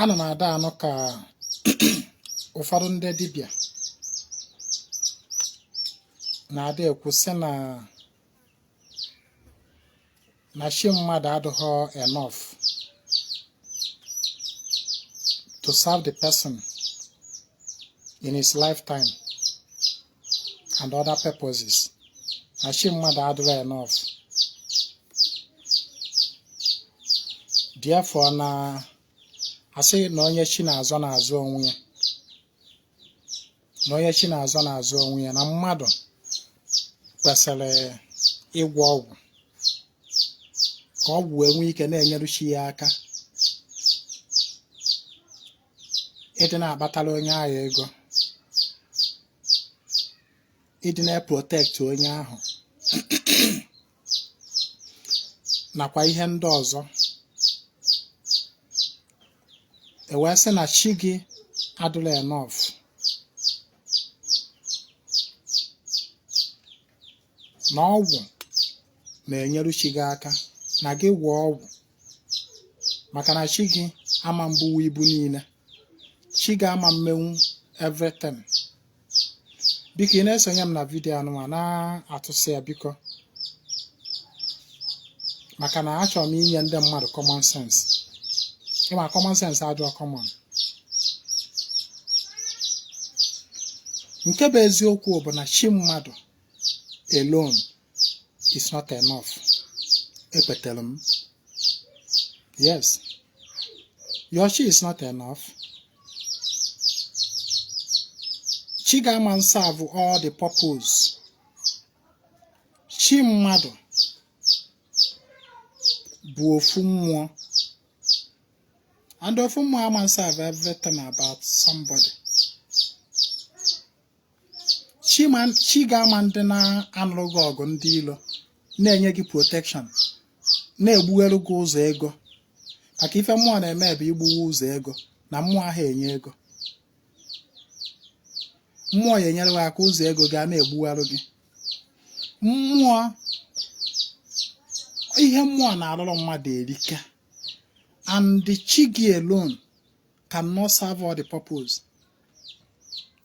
ana m adị anụ ka ụfọdụ ndị dibịa na-adị ekwu sị na na chi mmadụ adịghọ enough to serve the person in his lifetime and other purposes na chi mmadụ adịrọ enough therefore na asị na onye chi na-azọ na-azọ onwe ya na onye chi na-azọ na-azọ onwe ya na mmadụ kwesịrị ịgwọ ọgwụ ka ọgwụ wee nwee ike na-enyeru chi ya aka ịdị na-akpatara onye ahụ ego ịdị na-eprotect onye ahụ nakwa ihe ndị ọzọ e wee sị na chi gị adịrọ enough na ọgwụ na-enyere chi gị aka na gị gwọọ ọgwụ maka na chi gị ama mbunwu ibu niile chi gị ama mmenwu everything biko ị na-esonye m na video anụnwa na-atụsị ya biko maka na achọrọ m inye ndị mmadụ common sense ị ma common sense adịọ common nke bụ eziokwu bụ na chi mmadụ alone is not enough ekwetere m yes your chi is not enough chi gị ama nserve all the purpose chi mmadụ bụ ofu mmụọ and ofu mmụọ ama nserve everything about somebody chi gị ama ndị na-anụrụ gị ọgụ ndị ilo na-enye gị protection na-egbuwaru gị ụzọ ego maka ife mmụọ na-eme bụ igbuwe ụzọ ego na mmụọ aha enye ego mmụọ ya enyere gị aka ụzọ ego ga na-egbuwaru gị mmụọ ihe mmụọ na-arụrụ mmadụ erika and chi gị alone cannot serve all the purpose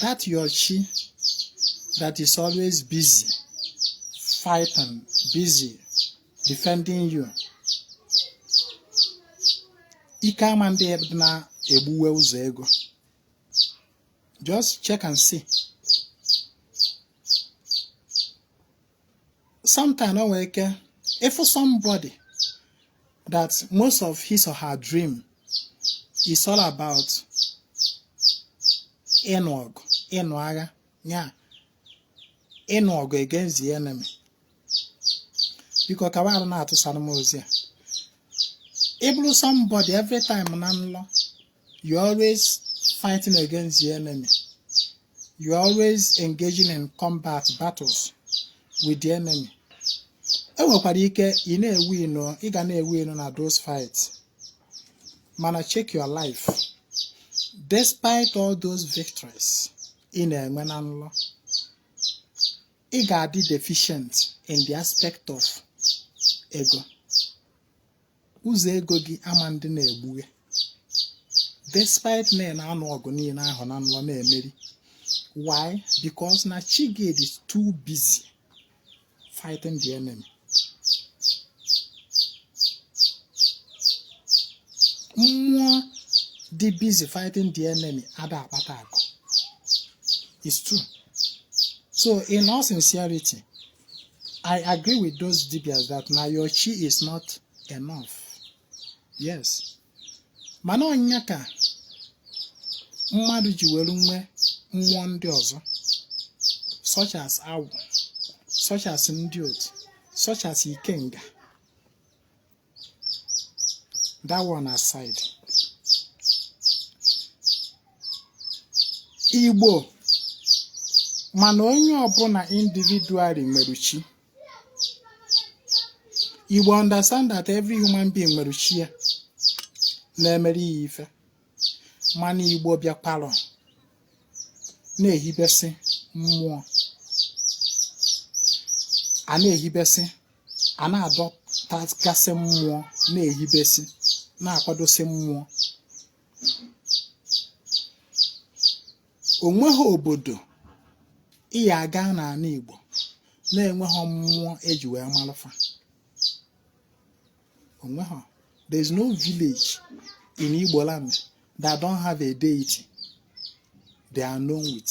that your chi that is always busy fighting busy defending you ike ama ndị na-egbuwe ụzọ ego just check and see sometimes o nwere ike ịfụ somebody that most of his or her dream is all about ịnụ ọgụ ịnụ agha ya ịnụ ọgụ against the enemy biko kwanụ na-atụsara m ozi a ị bụrụ somebody every time na nlọ you always fighting against the enemy you always engaging in combat battles with the enemy e nwekwara ike ị ga na-ewin o na those fights mana check your life despite all those victories ị na-enwe na nlọ ị ga-adị deficient in the aspect of ego ụzọ ego gị ama-adị na-egbughe despite na ị na-anụ ọgụ niile ahụ na nlọ na-emeri why because na chi gị dị too busy fighting the enemy mmụọ dị busy fighting the enemy ada akpata akụ it's true so in all sincerity I agree with those dibias that na your chi is not enough. Yes. Mana ọ nya ka mmadụ ji were nwe mmụọ ndị ọzọ such as agwụ such as ndị otu such as ikenga that one aside igbo ma na onye ọbụla individually nwere chi igbo understand that every human being nwere chi ya na-emere ya ife mana igbo bịakwara na-ehibesi mmụọ a na-ehibesi a na-adọtagasị mmụọ na-ehibesi na-akwadosi mmụọ o nweghị obodo ị ya-aga n'ala Igbo na-enweghị mmụọ e ji wee malụ fa o nweghị there is no village in Igbo land that don't have a deity they are known with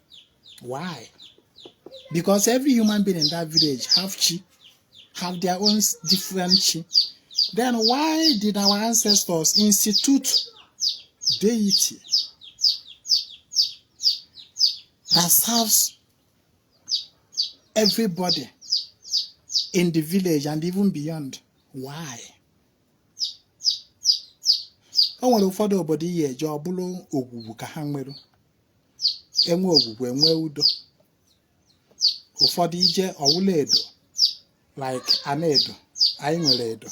Why? Because every human being in that village have chi, have their own different chi. Then why did our ancestors institute deity that serves everybody in the village and even beyond. Why? o nwere ụfọdụ obodo ị ya-eje ọ bụrụ ogwugwu ka ha nwere enwe ogwugwu enwe udo ụfọdụ ije ọwụla edo like anaedo anyị nwere edo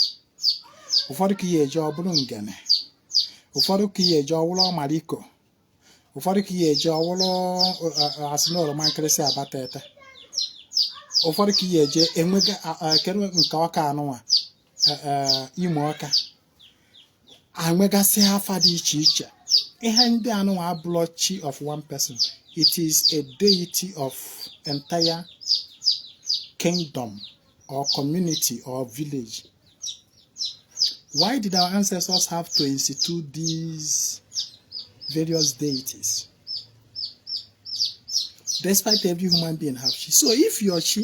ụfọdụ ka ị ya-eje ọbụrụ ngene ụfọdụ ka ị ya-eje ọwụrụ ọmaliko ụfọdụ ka ị ya-eje ọwụrụ asị na oroma nkịrịsị abatete ụfọdụ ka ị ya-eje enwega a- a- kedu nke ọka anụnwa e, e, imo ọka enwegasị afa dị iche iche ihe ndị anụnwa abụlọ chi of one person it is a deity of entire kingdom or community or village why did our ancestors have to institute these various deities despite every human being have chi so if your chi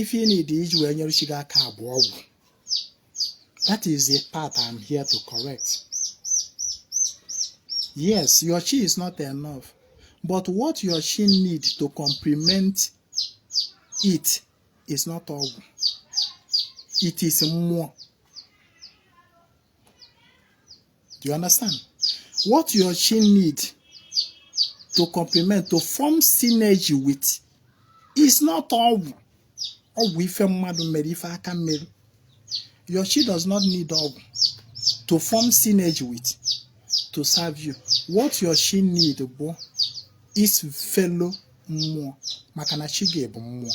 ife ị need iji wee nyere chi gị aka bụ ọgwụ that is the part I'm here to correct yes your chi is not enough but what your chi need to complement it is not ọgwụ it is mmụọ Do you understand? What your chi need to complement, to form synergy with, is not ọgwụ. Ọgwụ ife mmadụ mere ife aka mere. Your chi does not need ọgwụ to form synergy with, to serve you. What your chi need bụ is fellow mmụọ maka na chi gị bụ mmụọ.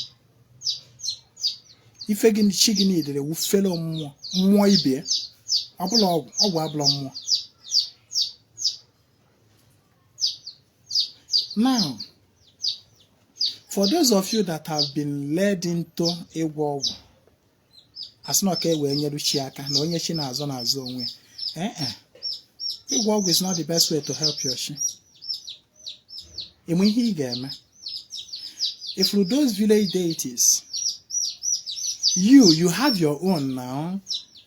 ife gị chi gị need wụ fellow mmụọ mmụọ ibe ọbụlọ ọgwụ ọgwụ abụlọ mmụọ now for those of you that have been led into ịgwọ ọgwụ asị na ọ ka e wee nyeru chi aka na onye chi na-azọ na-azọ onwe ya ee e ịgwọ ọgwụ is not the best way to help your chi ịma ihe ị ga-eme ị fụrụ those village deities you you have your own now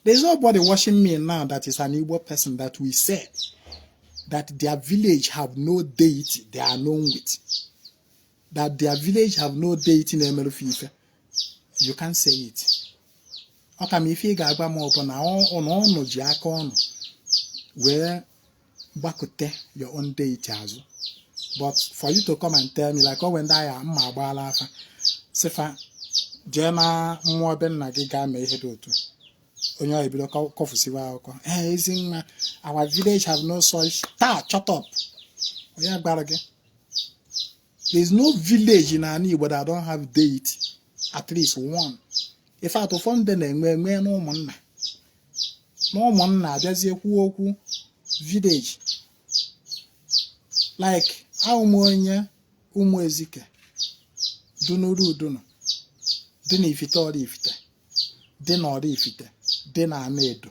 there's nobody watching me now that is an Igbo person that will say that their village have no deity they are known with that their village have no deity na-emeru fa ife you can't say it ọ kama ife ị ga-agwa m bụ na unu ji aka unu wee gbakute your own deity azụ but for you to come and tell me like o nwee ndị agha mma agbaala afa sị fa jee na mmụọ be nna gị gaa mee ihe dị otu onye ọhụ ebido kọfụsiwa akụkọ ee ezi nwa our village have no such taa shut up onye gwara gị there is no village in ana Igbo that don't have deity at least one in fact ụfọdụ ndị na-enwe enwe n'ụmụnna n'ụmụnna abịazie kwuo okwu village like awụ m onye ụmụ ezike dị n'Uru Udunu dị na Ifite Oraifite dị na Oraifite dị na Anaedo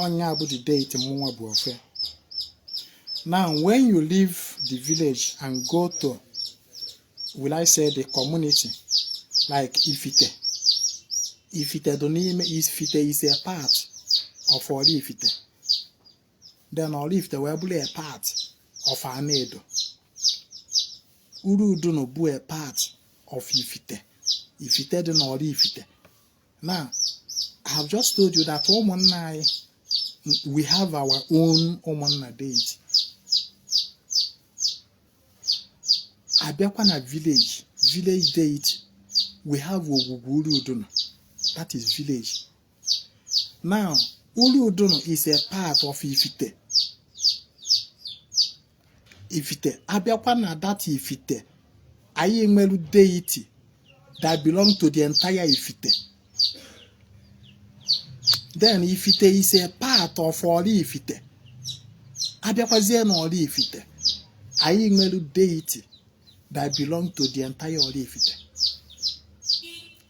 Ọ nya bụ the deity mụnwa bụ ofe. Now when you leave the village and go to will I say the community like Ifite. Ifite dị n'ime Ifite is a part of Oraifite. Then Oraifite wee bụrụ a part of Anaedo. Uru Udunu bụ a part of Ifite. Ifite dị n'Oraifite. now i have just told you that ụmụnna anyị we have our own ụmụnna deity abịakwa na village village deity we have ogwugwu uru udunu that is village now uru udunu is a part of ifite ifite abịakwa na that ifite anyị nwere deity that belong to the entire ifite then ifite is a part of Oraifite abịakwazie na Oraifite anyị nwere deity that belong to the entire Oraifite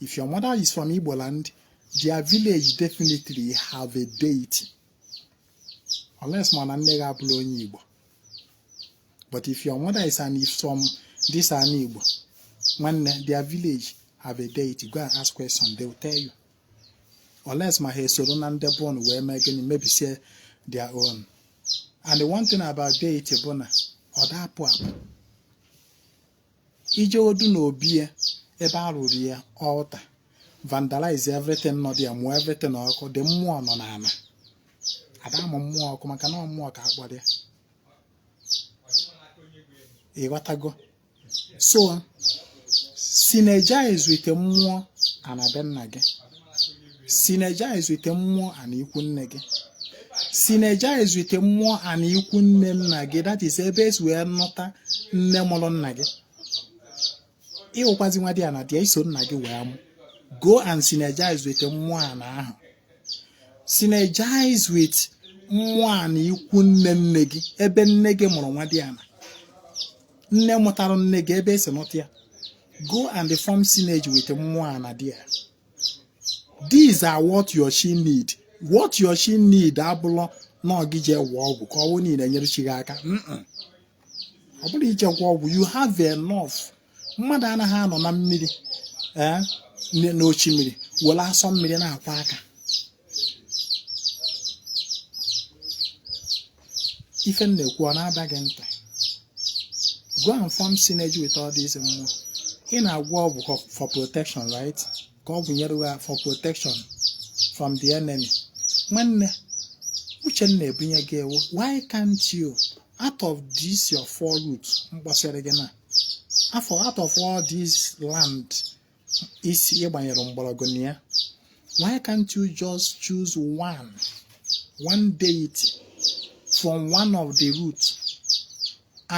if your mother is from Igbo land their village definitely have a deity unless ma na nne gị abụrọ onye Igbo but if your mother is an is from this ana Igbo nwanne their village have a deity go and ask question they will tell you unless ma ha esoro na ndị bọọlụ wee mee gịnị mebisie their own and the one thing about deity bụ na ọ da apụ apụ ijegodu n'obi ya ebe a rụrụ ya altar vandalize everything nọ there mụọ everything ọkụ the mmụọ nọ n'ana ada amụ mmụọ ọkụ maka na mmụọ ka akpọrọ ya ịghọtago so synergize with the mmụọ ana be nna gị synergize with mmụọ ana ikwu nne gị synergize with mmụọ ana ikwu nne nna gị that is ebe esi wee nụta nne mụrụ nna gị ịwụkwazi nwadiana there iso nna gị wee mụ go and synergize with mmụọ ana ahụ synergize with mmụọ ana ikwu nne nne gị ebe nne gị mụrụ nwadiana nne mụtara nne gị ebe esi nụta ya go and form synergy with mmụọ ana there these are what your chi need what your chi need abụlọ na ọ gị ije gwọ ọgwụ ka ọgwụ niile nyere chi gị aka ọ bụrụ ije gwọ ọgwụ you have enough mmadụ anaghị anọ na mmiri eh, n'oshimmiri were asọ mmiri na-akwọ aka ife m na-ekwu ọ na-ada gị ntị go and form synergy with all these mmụọ ị na-agwọ ọgwụ for- for protection right ka ọgwụ nyere gị for protection from the enemy nwanne uche m na-ebunye gị ewu why can't you out of this your four root m kpọsịrị gị na afọ out of all this land isi ịgbanyere mgbọrọgwụ na ya why can't you just choose one one deity from one of the roots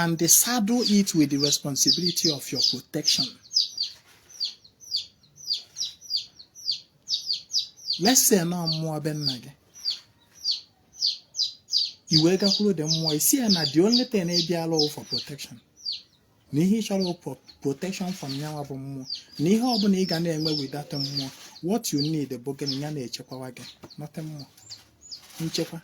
and saddle it with the responsibility of your protection let's say na mmụọ be nna gị i wee gakwuru the mmụọ ị sị ya na the only thing ị bịara for protection na ihe ị chọrọ bụ protection from nya nwa bụ mmụọ na ihe ọbụla ị ga na-eme with that mmụọ what you need bụ gịnị ya na-echekwawa gị nothing more nchekwa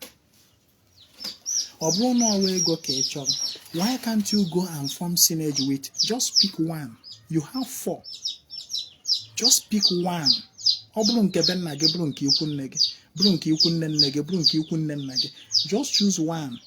ọ bụrụ na ọwa ego ka ị chọrọ why can't you go and form synergy with just pick one you have four just pick one ọ bụrụ nke be nna gị bụrụ nke ikwu nne gị bụrụ nke ikwu nne nne gị bụrụ nke ikwu nne nna gị just choose one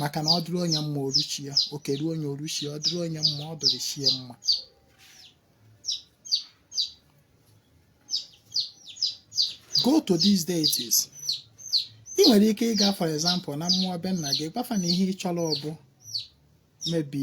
maka na ọ dịrị onye mma o ruo chi ya oke ruo onye o ruo chi ya ọ dịrị onye mma ọ dịrị chi ya mma go to these deities ị nwere ike ịga for example na mmụọ be nna gị gwa fa na ihe ị chọrọ ọ bụ maybe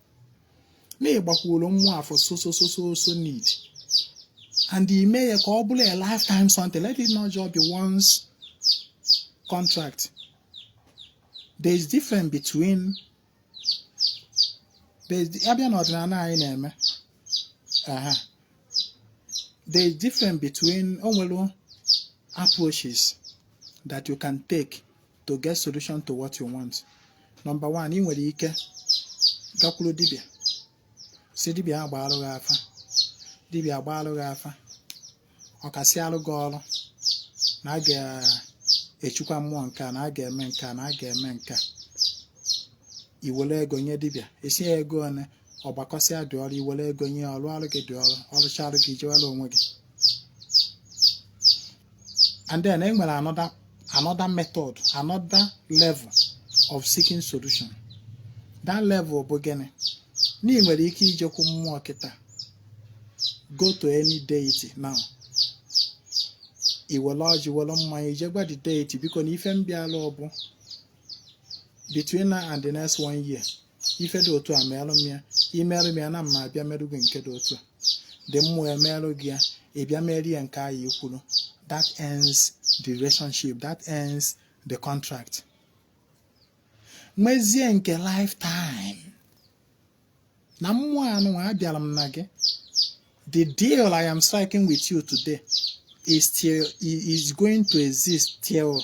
na ị gbakwuru mmụọ a for so so so so so need and i mee ya ka ọ bụrụ a lifetime something let it not just be once contract there is difference between there is a bịa n'ọdịnala anyị na-eme aha there is difference between o nwere approaches that you can take to get solution to what you want number one ị nwere ike gakwuru dibịa sị dibịa a gbaalụ gị afa dibịa agbaalụ gị afa ọ kasịalụ gị ọrụ na a ga-echukwa mmụọ nke a na a ga-eme nke a na a ga-eme nke a i were ego nye dibịa ị sị ya ego one ọ gbakọsịa the ọrụ i were ego nye ọ rụọrụ gị the ọrụ ọ rụcha ọrụ gị jewere onwe gị and then e nwere another another method another level of seeking solution that level bụ gịnị na ị nwere ike ijekwu mmụọ kịta go to any deity now i were ọjị were mmanya i je gwa the deity biko na ife m bịala ọ bụ between now and the next one year ife dị otu a merụ m ya i merụ m ya na mma abịa merụ gị nke dị otu a the mmụọ emerụ gị ya ị bịa mere ya nke anyị kwuru that ends the relationship that ends the contract mezie nke lifetime na mmụọ anụ abịara m na gị the deal I am striking with you today is till is going to exist till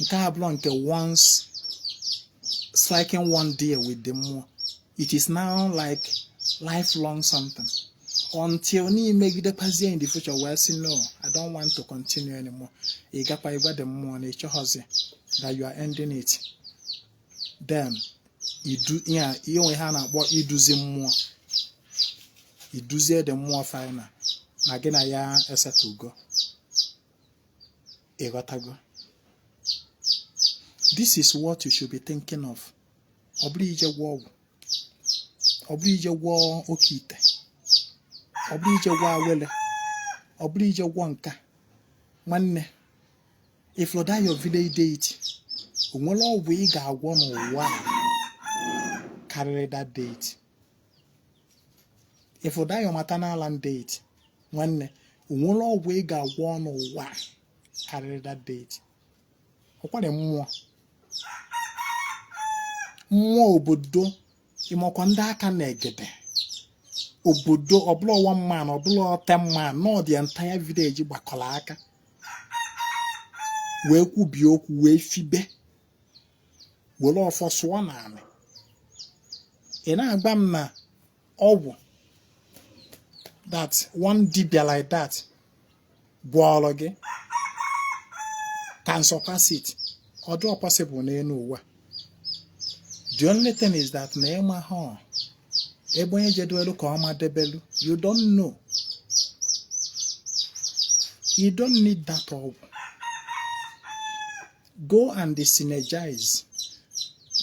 nke a bụrụ nke once striking one deal with the mmụọ it is now like lifelong something until na i megidekwazie in the future wee sị no i don't want to continue anymore ị gakwa ịgwa the mmụọ na ị chọghọzi that you are ending it then idu ihe a- ihe o nwe ihe a na-akpọ iduzi mmụọ i duzie the mmụọ final na gị na ya esetugo ị ghọtago this is what you should be thinking of ọ bụrọ ije gwọ ọgwụ ọ bụrọ ije gwọ oke ite ọ bụrọ ije gwọ awele ọ bụrọ ije gwọ nke a nwanne ị fụ that your village deity o nwerọ ọgwụ ị ga-agwọ n'ụwa karịrị that deity ị fụ that your maternal land deity nwanne o nwerọ ọgwụ ị ga-agwọ n'ụwa karịrị that deity ọkwara mmụọ mmụọ obodo ị makwa ndị aka na-egede obodo ọ bụrọ one man ọ bụrọ ten man na ọ the entire village gbakọrọ aka wee kwubie okwu wee fibe were ọfọ sụọ n'ala ị na-agwa m na ọgwụ that one dibia like that gwọọrọ gị can surpass it ọ dịrọ possible n'elu ụwa the only thing is that na ị ma na ebe onye jedelu ka ọ madebelu you don't know you don't need that ọgwụ go and synergize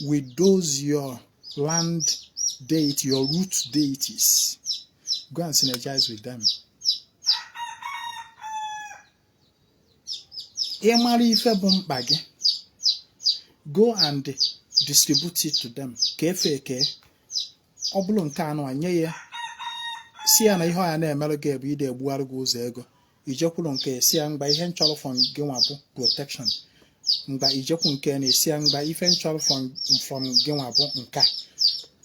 with those your land deity, your root deities. Go and synergize with them. Ị mara ife bụ mkpa gị, go and distribute it to them kee fa eke ọ bụrụ nke anụ nye ya sị ya na ihe ọ ya na-emerụ gị bụ ịdị egbugharị gị ụzọ ego i jekwuru nke a sị ya mgba ihe m chọrọ from gị nwa bụ protection mgba i jekwuru nke a sị ya mgba ife m chọrọ from from gị nwa bụ nke a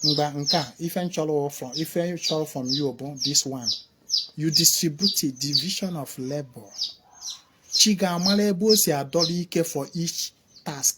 mgba nke a ife m chọrọ from ife m chọrọ from you bụ this one you distribute it division of labor chi gị amara ebe o si adọrọ ike for each task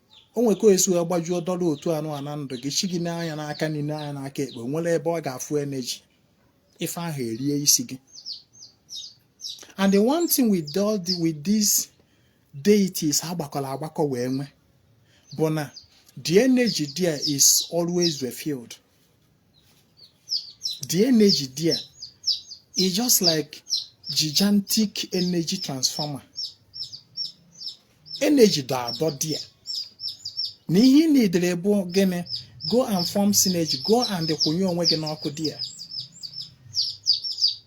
o nwere ka esi wee gbajuo dọla otu anụ a na ndụ gị chi gị nee anya n'aka nri nee anya n'aka ekpe o nwehọ ebe ọ ga-afụ energy ife ahụ erie isi gị and the one thing with, the, with these deities agbakọrọ agbakọ wee nwe bụ na the energy there is always refilled the energy there is just like gigantic energy transformer energy dọ adọ there na ihe ị needịrị bụ gịnị go and form synergy go and kwụnye onwe gị n'ọkụ there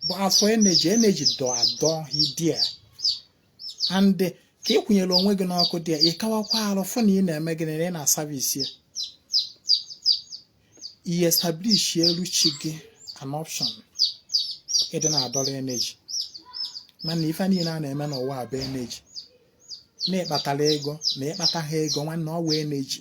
but as for energy energy dọ adọ there and ka ị kwụnyere onwe gị n'ọkụ there ị kawakwa arụ fụ na ị na-eme gịnị na ị na-aservice ya i establisheru chi gị an option ịdị na-adọrọ energy mana ife niile a na-eme n'ụwa a bụ energy na ị kpatara ego na ị kpatahọ ego nwanne ọ wụ energy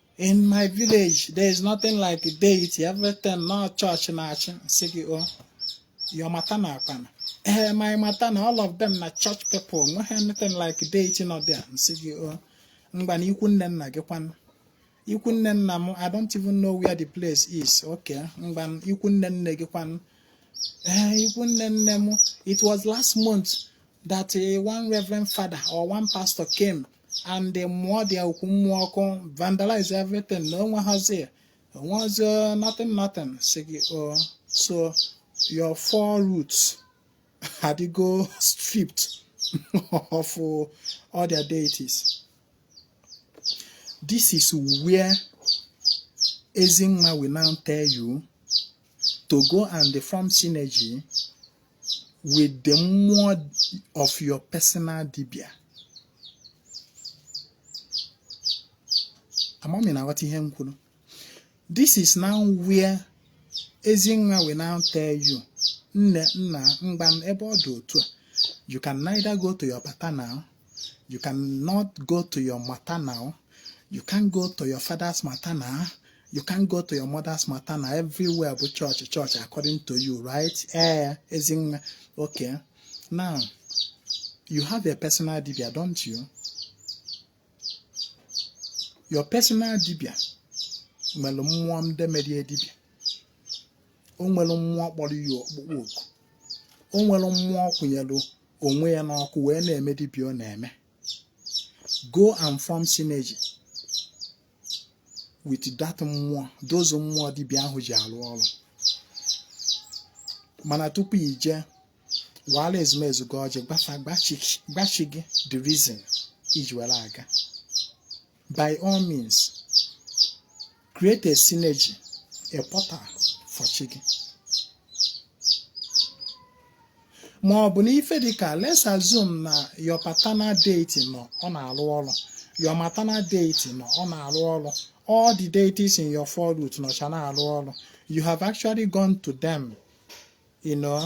in my village there is nothing like deity everything na ọ church na-achị m sị gị o oh, your maternal kwanụ ee eh, my maternal all of them are church people nweghị anything like deity nọ there m sị gị o oh, mgba na ikwu nne nna gị kwanụ ikwu nne nna m i don't even know where the place is okay mgba ikwu nne nne gị kwanụ ee eh, ikwu nne nne m it was last month that eh, one reverend father or one pastor came and mụọ there ọkụ mụọ ọkụ vandalize everything na o nwehọzi o nwehọzi nothing nothing m sị gị o oh, so your four roots adịgo stripped of all their deities this is where Ezinwa will now tell you to go and form synergy with the mmụọ of your personal dibia amam ị na-aghọta ihe m kwuru this is now where Ezinwa will now tell you nne nna mgba ebe ọ dị otu a you can neither go to your paternal You cannot go to your maternal. You can't go to your father's maternal. You can't go to your mother's maternal. Everywhere bụ chọọchị chọọchị according to you, right? Ee, eh, ezi nwa. Okay. Now, you have a personal dibia, don't you? Your personal dibia nwere mmụọ ndị mere ya dibia. O nwere mmụọ kpọrọ ya ọkpụkpọ oku. O nwere mmụọ kwụnyere onwe ya n'ọkụ wee na-eme dibịa ọ na-eme go and form synergy with that mmụọ those mmụọ dibịa ahụ ji arụ ọrụ mana tupu i jee wara ezumezu gị ọjị gwa fa gwa chi gị the reason i ji were aga by all means create a synergy a portal for chi gị ma ọ bụ na ife dịka let's assume na your paternal deity nọ ọ na-arụ ọrụ your maternal deity nọ ọ na-arụ ọrụ all the deities in your four root nọcha na-arụ ọrụ you have actually gone to them you know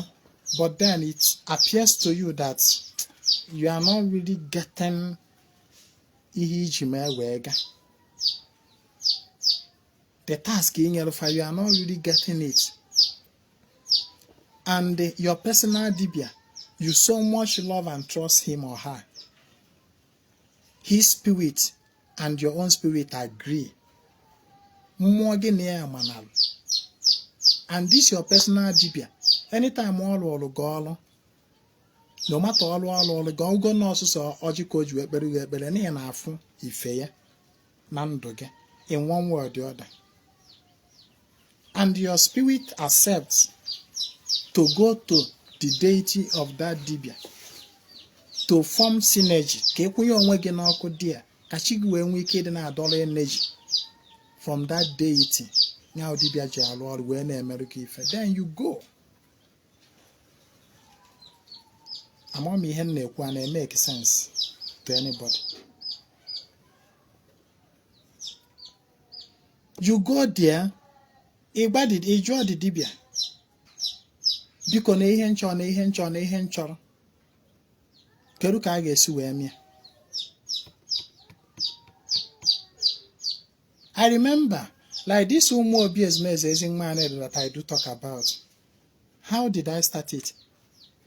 but then it appears to you that you are not really getting ihe i ji mee wee gaa the task i nyere fa you are not really getting it and your personal dibia you so much love and trust him or her his spirit and your own spirit agree mmụọ gị na ya manalụ and this your personal dibia anytime ọ rụrụ gị ọrụ no matter ọlụ ọ lụlụ gị ọ bụgo na ọ sọsọ ọjị ka o ji wee kpere gị ekpere na ị na-afụ ife ya na ndụ gị in one way or the other and your spirit accepts to go to the deity of that dibia to form synergy ka ị kwụnye onwe gị n'ọkụ dị ya ka chi gị wee nwee ike ịdị na-adọrọ energy from that deity ya dibia ji alụ ọrụ wee na-emerụ gị ife then you go ama m ihe m na-ekwu a na-emeke sense to anybody you go there ị jụọ the dibịa biko na ihe m chọ na ihe m chọ na ihe m chọrọ kedu ka a ga-esi wee mee ya I remember like this ụmụ obi ezumezu ezenwanyị that I do talk about How did I start it?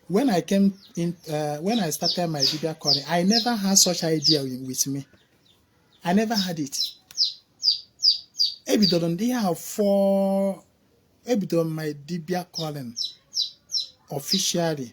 When I came in, uh, when I started my video calling, I never had such idea with me. I never had it. Ebidoro m ihe ahụ for ebidoro my dibia calling officially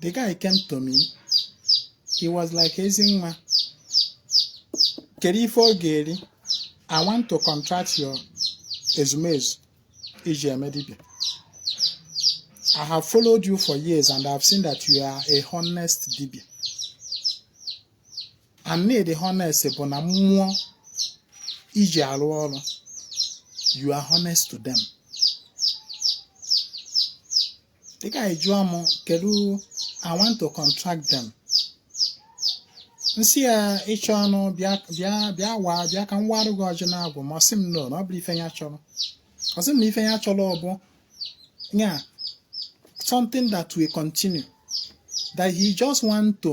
The guy came to me. He was like Ezinwa. Kedu ife ọ ga-eri? I want to contract your ezumezu i ji eme dibia. I have followed you for years and I have seen that you are a honest dibia. And n'ịdị honest bụ na mmụọ i ji arụ ọrụ you are honest to them. the guy jụọ m kedu I want to contract them m sị ya ị chọọnụ bịa bịa bịa waa bịa ka m warụ gị ọjị n'Agwụ ma ọ sị m no na ọ bụrọ ife ya chọrọ ọ sị m na ife ya chọrọ ọ bụ ya something that will continue that he just want to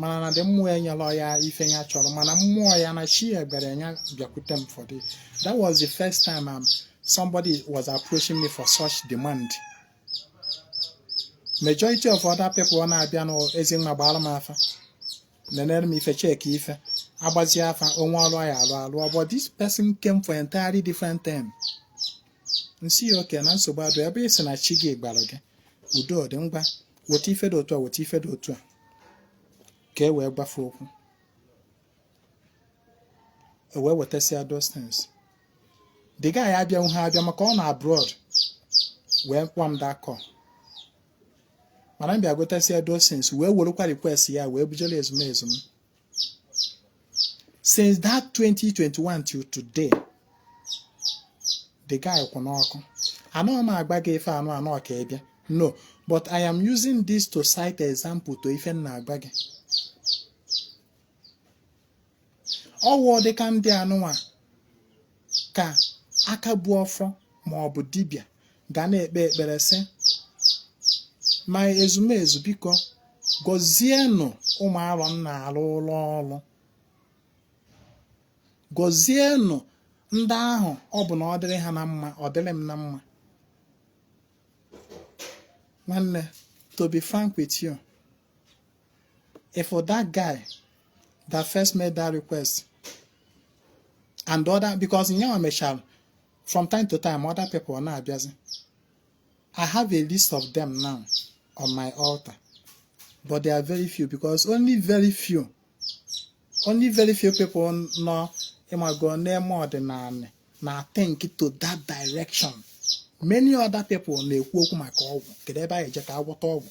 mana na ndị mmụọ ya nyere ya ife ya chọrọ mana mmụọ ya na chi ya gwara ya bịakwute m for this that was the first time um, somebody was approaching me for such demand majority of other people ọ na-abịa na Ezinwa gbaara m afa nenere m ife check ife a gbazie afa o nwee ọrụ ya alụ alụ but this person came for entirely different thing m sị ya okay na nsogbu adịrọ ebe ị sị na chi gị gwara gị udo dị ngwa weta ife dị otu a weta ife dị otu a ka e wee gbafe okwu e wee wetasịa those things the guy abịanwuhọ abịa maka ọ nọ abroad wee kpọọ m that call mana m bịa gotasịa those things wee werụkwa request ya wee bujere ezumezu m since that 2021 till today the guy kwụ n'ọkụ anọ m agwa gị ife anụnwa ka ị bịa no but i am using this to cite example to ife m na-agwa gị ọ wụ dịka ndị anụnwa ka aka bu ọfọ ma ọ bụ dibịa ga na-ekpe ekpere sị ma ezumezu biko gọzienụ ụmụ arọ m na-arụrụ ọrụ gọzienụ ndị ahụ ọ bụ na ọ dịrị ha na mma ọ dịrị m na mma nwanne to be frank with you if for that guy that first made that request and other because nya e mechara from time to time other people now abịazi i have a list of them now on my altar but they are very few because only very few only very few people know ị mago na-eme ọdịnanị na think to that direction many other people na-ekwu okwu maka ọgwụ kedu ebe a ya-eje ka a gwọta ọgwụ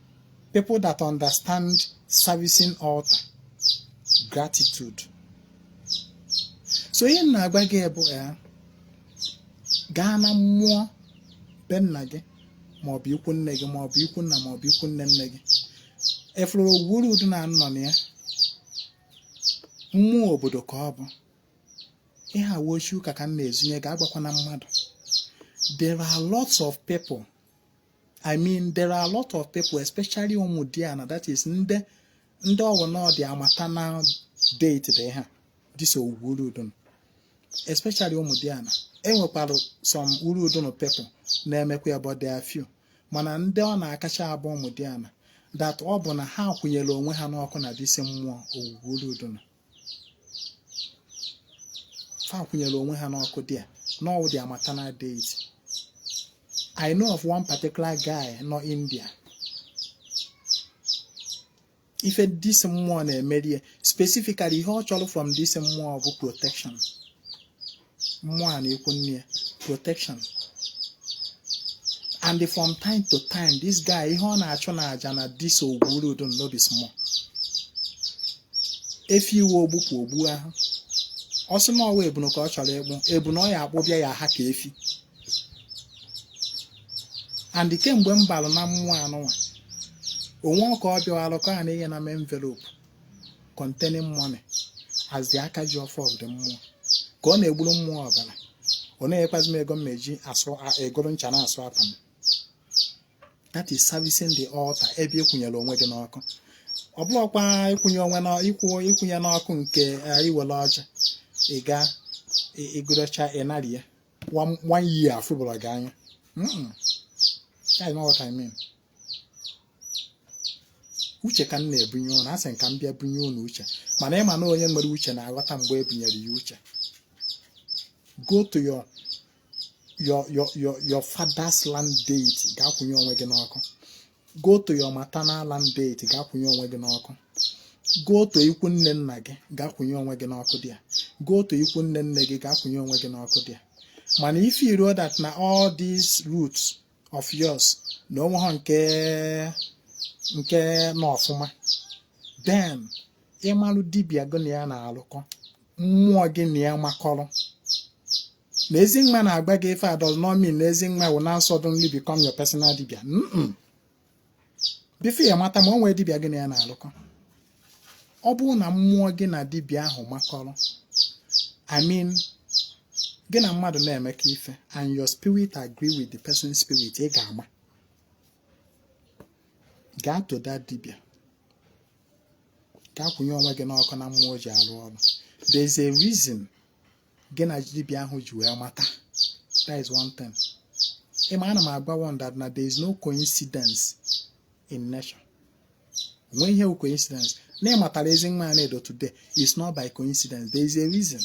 People that understand servicing altar, gratitude. So ihe m na-agwa gị bụ ya gaa na mmụọ be nna gị maọbụ ikwu nne gị maọbụ ikwu nna maọbụ ikwu nne nne gị if Ogwugwu Urudunu nọ na ya mmụọ obodo ka ọ bụ ihe a wụ secret ka m na-ezunye gị agwakwana mmadụ there are lots of people I mean there are a lot of people especially ụmụdiana that is ndị ndị ọ wụ na ọ their maternal deity ha this Ogwugwu Urudunu especially ụmụdiana enwekwara some Urudunu people na-emekwa ya but there are few mana ndị ọ na-akacha abụ ụmụdiana that ọ bụ na ha kwụnyere onwe ha n'ọkụ na this mmụọ Ogwugwu Urudunu fa kwụnyere onwe ha n'ọkụ there na ọ wụ their maternal deity I know of one particular guy nọ India ife this mmụọ na-emerie specifically ihe ọ chọrọ from this mmụọ bụ protection mmụọ a n'ikwu nne ya protection and from time to time this guy ihe ọ na-achụ n'aja na this Ogwugwu Urudunu no be small efi iwe ogbupụ ogbu ahụ ọ sị na ọ wụ ebunu ka ọ chọrọ ịkpụ ebunu ọ ya-akpụbịa ya-aha ka efi and kemgbe m balụ na mmụọ anụnwa o nwerọ ka ọ bịawalụ ka ọ na-enyena m envelope containing money as the aka ji ọfọ of the mmụọ ka ọ na-egburu mmụọ ọbara ọ na-enyekwazi m ego m na-eji asụ a- egoro ncha na-asụ akwa m that is servicing the altar ebe ị kwụnyere onwe gị n'ọkụ ọ bụrọkwa ịkwụnye onwe na ịkwụ ịkwụnye n'ọkụ nke eh, i were ọjị ị ga ị- ị gọrọcha ị narị ya one one year a fụburọ gị anya Mm-mm. That's not what I mean. uche ka m na-ebunye ụnụ asị m ka m bịa bunye ụnụ uche mana ị ma na onye nwere uche na-aghọta mgbe e bunyere ya uche go to your your your your your father's land deity gaa kwụnye onwe gị n'ọkụ go to your maternal land deity gaa kwụnye onwe gị n'ọkụ go to ikwu nne nna gị gaa kwụnye onwe gị n'ọkụ there go to ikwu nne nne gị gaa kwụnye onwe gị n'ọkụ there mana if you know that na all these roots of yours na o nwerọ nke nke nọ ọfụma then ị malụ dibia gị na ya na-alụkọ mmụọ gị na ya makọrọ na Ezinwa na-agwa gị ife does not mean na Ezinwa will now suddenly become your personal dibia before ya mata ma ọ nwee dibịa gị na ya na-alụkọ ọ bụrụ na mmụọ gị na dibịa ahụ makọrọ I mean gị na mmadụ na-emekọ ife and your spirit agree with the person's spirit ị ga-ama gaa to that dibịa gaa kwụnye onwe gị n'ọkụ na mmụọ ji alụ ọrụ there is a reason gị na dibịa ahụ ji wee mata that is one thing ịma ana m agwa ụnụ that na there is no coincidence in nature nwee ihe coincidence na ị matara Ezinwa Anaedo today is not by coincidence there is a reason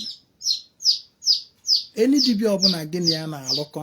any dibịa ọbụla gị na ya na-alụkọ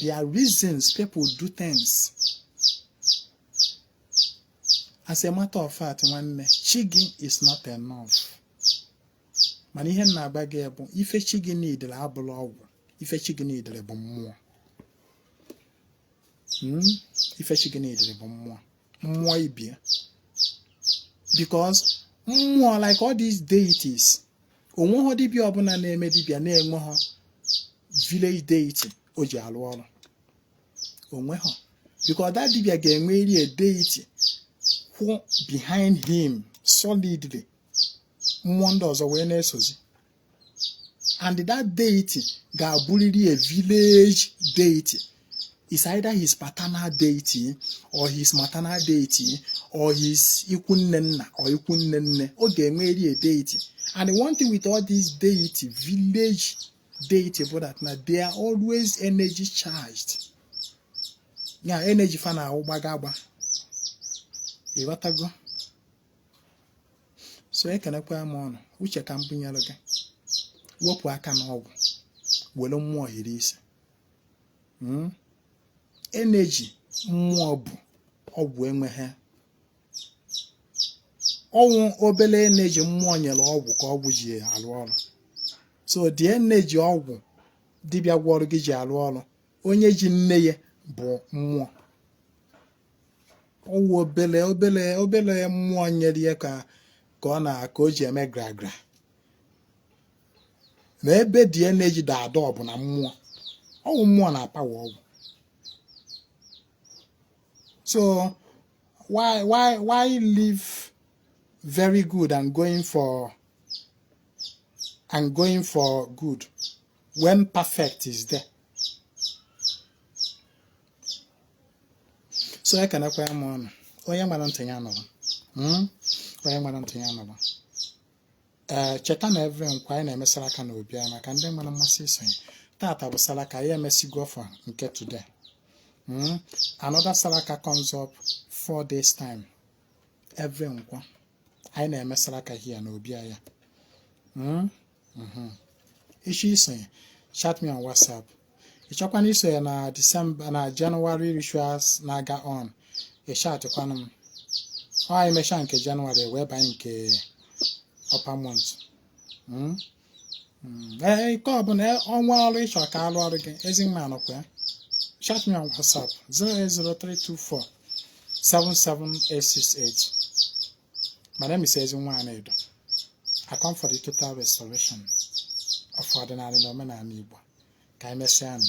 there are reasons people do things as a matter of fact nwanne chi gị is not enough mana ihe m na-agwa gị bụ ife chi gị niidere abụrọ ọgwụ ife chi gị niidere bụ mmụọ hmm? ife chi gị niidere bụ mmụọ mmụọ ibie because mmụọ like all these deities o nweghọ dibịa ọbụla na-eme dibịa na-enweghọ village deity o ji alụ ọrụ o nweghọ because that dibịa ga-enweriri a deity kwụ behind him solidly mmụọ ndị ọzọ wee na-esozi and that deity ga-abụrịrị a village deity is either his paternal deity or his maternal deity or his ikwu nne nna or ikwu nne nne ọ ga-enweri a deity and one thing with all these deity village deity bụ that na they are always energy charged yeah energy fa na-awụ gbaga agba ị ghọtago so ekenekwa m ụnụ uche ka m bunyere gị wepụ aka n'ọgwụ were mmụọ hiri isi hmm? energy mmụọ bu ọgwụ enweghị ọ wụ obele energy mmụọ nyere ọgwụ ka ọgwụ ji arụ ọrụ so the energy ọgwụ dibịa gwọrọ gị ji arụ ọrụ onye ji nne ya bụ mmụọ ọ wụ obele obele obele mmụọ nyere ya ka ka ọ na ka o ji eme gragra na ebe the energy dọ adọ bụ na mmụọ ọ wụ mmụọ na-apawa ọgwụ so why why why leave very good and going for and going for good when perfect is there so ya kanakwa ya ma ọnụ onye nwere ntị ya nụrụ hmm? onye nwere ntị ya nụrụ ee eh, cheta na every Nkwọ anyị na-eme salaka na obi anyị maka ndị nwere mmasị isonye tata bụ salaka anyị emesigo for nke today hmm? another salaka comes up four days time every Nkwọ anyị na-eme salaka here na obi anyị hmm? mhm. ịchọ isonye chat me on whatsapp ịchọkwana isonye na december na january rituals na-aga on ịchatịkwanụ m ọ anyị mechaa nke january wee banye nke upper month hmm? Hmm. ee eh, nke ọbụla eh, ọnwa ọrụ ịchọ ka a lụọrọ gị Ezinwa nọkwa ya chat me on whatsapp 08032477868 My name is Ezinwa Anaedo. I come for the total restoration of ọdịnala na omenala Igbo ka anyị mesịa nụ